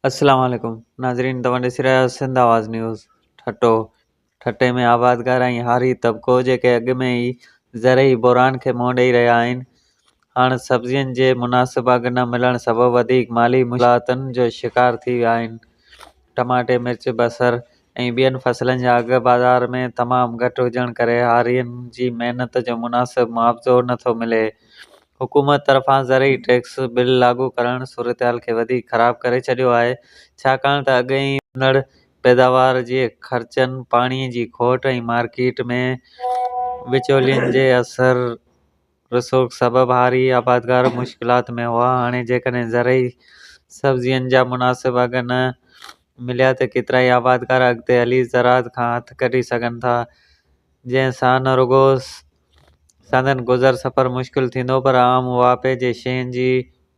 السلام عليڪم ناظرين توهان ڏسي رهيا آهيو سنڌ آواز نيوز ٺٽو ٺٽي ۾ آبادگار ۽ هاري طبقو جيڪي اڳ ۾ ئي زرعي بحران کي منهن ڏئي رهيا آهن هاڻ سبزين جي مناسب اگهه نه ملڻ سبب وڌيڪ مالي مشڪلاتن جو شڪار ٿي ويا آهن ٽماٽي مرچ بصر ۽ ٻين فصلن جا اگهه بازار ۾ تمام گهٽ هجڻ ڪري هارين جي محنت جو مناسب معاوضو نه ٿو ملي. حڪومت طرفان زرعي ٽيڪس بل لاڳو ڪرڻ صورتحال کي وڌيڪ خراب ڪري ڇڏيو آهي، ڇاڪاڻ ته اڳ ئي وڌندڙ پيداوار جي خرچن، پاڻي جي کوٽ ۽ مارڪيٽ ۾ وچولين جي اثر رسوخ سبب هاري آبادگار مشڪلات ۾ هئا، هاڻي جيڪڏهن زرعي سبزين جا مناسب اگهه نه مليا ته ڪيترائي آبادگار اڳتي هلي زراعت کان هٿ ڪڍي سگهن ٿا، جنهن سان نه رڳو سندن گذر سفر مشڪل ٿيندو پر عام واهپي جي شين جي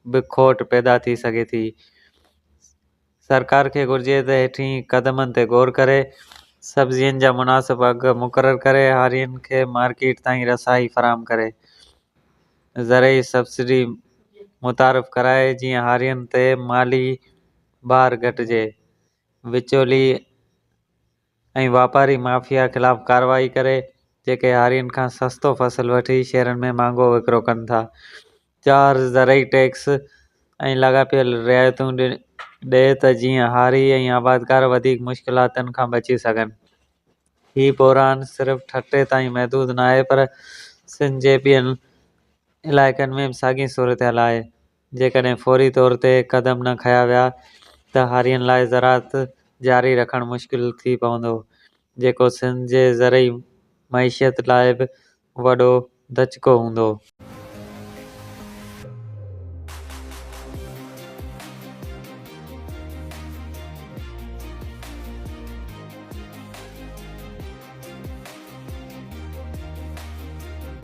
به کوٽ پيدا ٿي سگهي ٿي. سرڪار کي گهرجي ته هيٺين قدمن تي غور ڪري سبزين جا مناسب اگهه مقرر ڪري هارين کي مارڪيٽ تائين رسائي فراهم ڪري زرعي سبسڊي متعارف ڪرائي جيئن هارين تي مالي بار گهٽجي وچولي ۽ واپاري مافيا خلاف ڪارروائي ڪري جيڪي هارين کان سستو فصل وٺي شهرن ۾ مهانگو وڪرو ڪن ٿا. چار زرعي ٽيڪس ۽ لاڳاپيل رعايتون ڏئي ته جيئن هاري ۽ آبادگار وڌيڪ مشڪلاتن کان بچي سگهن. هي بحران صرف ٺٽي تائين محدود ناهي پر سنڌ جي ٻين علائقن ۾ به ساڳي صورتحال آهي. جيڪڏهن فوري طور تي قدم نه کنيا ويا ته هارين لاء زراعت جاري رکڻ مشڪل ٿي پوندو، جيڪو سنڌ جي زرعي معيشت لاء به وڏو ڌچڪو هوندو.